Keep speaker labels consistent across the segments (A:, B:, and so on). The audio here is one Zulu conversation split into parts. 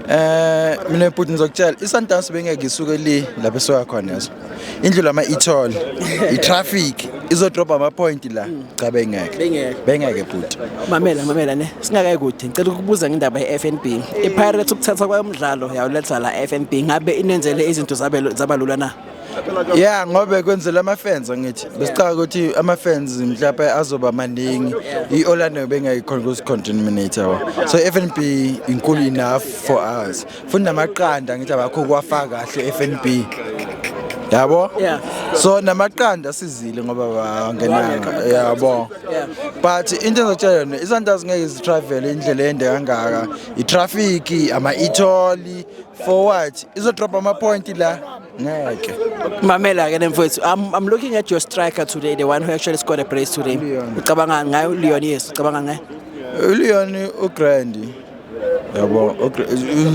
A: Eh mina bhuti ngizokutshela iSundowns bengeke isuke li lapho esoya khona yazo. Indlu lama ithole. I-traffic izodroba ama point la. Cha bengeke. Bengeke. Bengeke bhuti. mamela mamela ne
B: singakayi kude ngicela ukubuza ngendaba ye-fnb ipirates ukuthatha kwayomdlalo yawuletha la fnb ngabe inenzele izinto zabe- zaba lula na ya
A: ngobe kwenzela ama-fans angithi besicaka ukuthi ama-fans mhlawumbe azoba maningi i-orlando bengayikhona kuzicontaminator wa so i-f n b inkulu enough for us futhi namaqanda ngithi abakho kuwafaka kahle i-f n b yabo so namaqanda asizile ngoba bangenanga yabo but into ezotshela yona isandazi ngeke zitravel indlela ende kangaka i-traffic ama-etholi for what izodrobha ama-point la ngeke mamela ke
B: nemfowethu I'm, I'm looking at your striker today the one who actually scored a brace today ucabanga ngayo Leon yes ucabanga ngaye Leon
A: ugrand yabo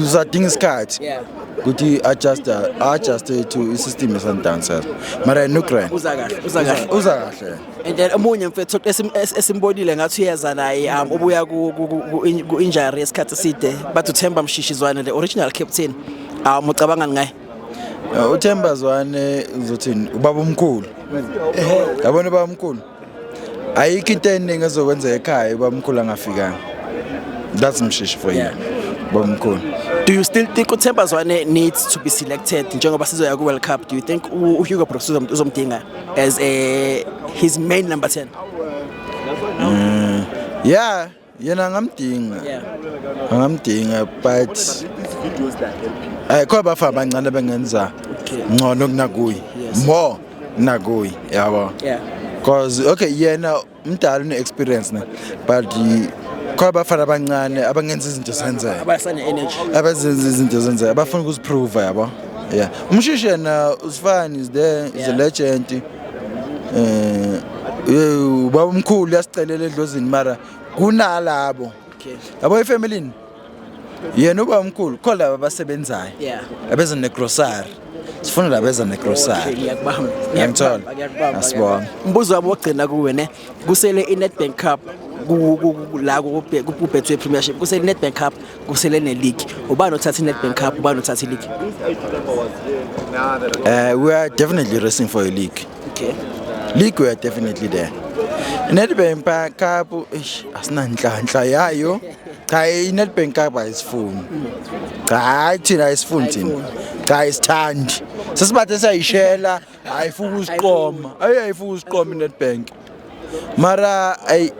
A: uzadinga isikhathi yeah ukuthi adjust adjust to i system esandancer mara no grand uza kahle uza kahle
B: uza kahle and then omunye mfethu esim- es- esimbonile ngathi uyeza naye um ubuya ku- ku- ku- ku- in- ku-injury yesikhathi eside bathi uthemba mshishizwane the original captain um ucabangani ngaye Uh, uthemba
A: zwane uzothini ubaba omkhulu yabona ubaba omkhulu ayikho into eningi ezokwenzeka ekhaya ubaba omkhulu angafikanga that's mshishi for you ubaba omkhulu do you still think
B: uthemba zwane needs to be selected njengoba sizoya ku-world cup do you think u- uhugo brooks uzom- uzomdinga as a his main number 10 mm,
A: yeah yena angamdinga yeah. angamdinga but eh khona bafana abancane bengenza ngcono kunakuyi more kunakuyi yabo yeah cause okay yena umdala une experience ne but khona abafana abancane abangenza izinto zenzeke abasane energy
B: abazenza izinto
A: zenzeke abafuna ukuziprove yabo yeah umshishi yena usifani is there is a legend eh ubaba omkhulu yasicelela edlozini mara kunalabo yabo ifamily yena uba mkhulu khona laba abasebenzayo Yeah. abeza negrosari sifuna laba abeza negrosari ngiyakubamba ngiyamthola asibonge umbuzo wabo wokugcina
B: kuwe ne kusele i-nedbank cup ku- ku- ku- la kubhe- ku- kubhethwe premiership kusele i-nedbank cup kusele neligi ubani othatha i-nedbank cup ubani othatha iligi uh,
A: we are definitely racing for a league okay league we are definitely there nedbank cup eish, asinanhlanhla yayo cha i-Nedbank Cup ayisifuni cha hayi thina ayisifuni thina cha ayisithandi sesibathe sayishela ayifuka usiqoma ayi ayifuka usiqoma i-Nedbank mara ayi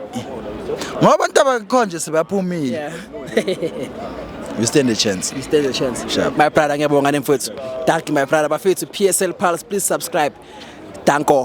A: ngoba abantu abakhonje sebaphumile you stand a chance You stand a chance. Sharp. My
B: brother ngiyabonga nemfowethu. Thank you my brother. Bafethu PSL Pulse please subscribe. Danko.